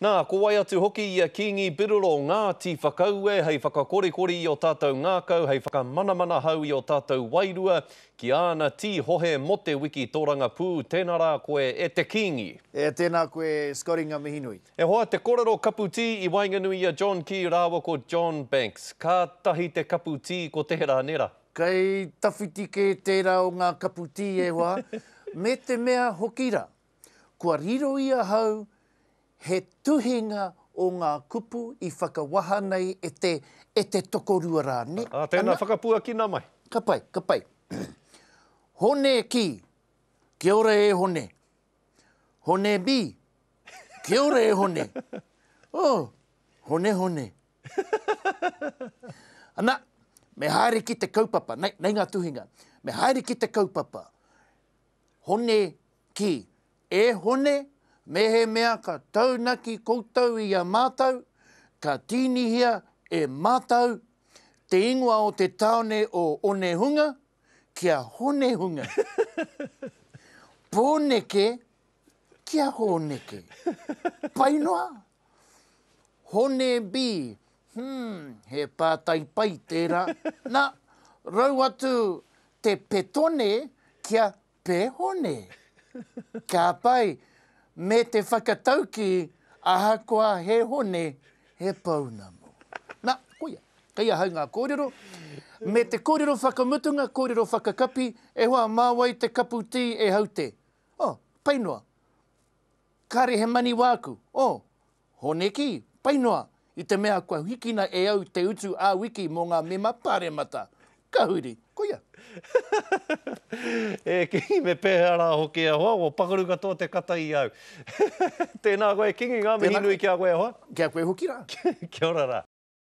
Nā, ko wai atu hoki i a Kīngi Biroro ngā tīwhakaue hei whakakorikori i ō tātou ngākau, hei whakamanamana hau i ō tātou wairua ki āna tīhohe mō te wiki tōrangapū, tēnā rā koe e te Kīngi. E, tēnā koe Scotty ngā mihi nui. E hoa, te korero kapu tī i waenganui i a John Key rāua ko John Banks. Kātahi te kapu tī ko tērā nē rā. Kei tawhiti kē tērā o ngā kapu tī e hoa, me te mea hoki rā. Kua riro i ahau he tuhinga o ngā kupu i whakawaha nei e te, e te tokorua rā, nē? Ā, tēnā, whakapuakina mai. Ka pai, ka pai. Hone Ki, Kia ora e Hone. Hone Mi, Kia ora e Hone. Oh, Hone, Hone. Ana, me haere ki te kaupapa, nei, nei ngā tuhinga. Me haere ki te kaupapa. Hone, ki, E Hone, mehemea ka taunaki koutou i a mātou, ka tīnihia e mātou te ingoa o te tāone o Onehunga ki a Honehunga. Pōneke ki a Hōneke. Pai noa? Hone, Bi, Humm, he pātai pai tērā. Na, rau atu te Petone kia Pehone. Ka pai, me te whakataukī ahakoa he hone, he pounamu. Na, koia, kei ahau ngā kōrero. Me te kōrero whakamutunga, kōrero whakakapi, e hoa, mā wai te kapu tī e hau te? Oh, pai noa. Kāre he mani wāku. Oh. Honeki, Pai noa, i te mea kua hikina e au te utu ā-wiki mō ngā mema Pāremata. Ka huri. Koia. E Kīngi, me pēhea rā hoki e hoa, kua pakaru katoa te kata i au. Tēnā koe Kīngi, ngā mihi nui ki a koe e hoa. Ki a koe hoki rā. Kia ora rā.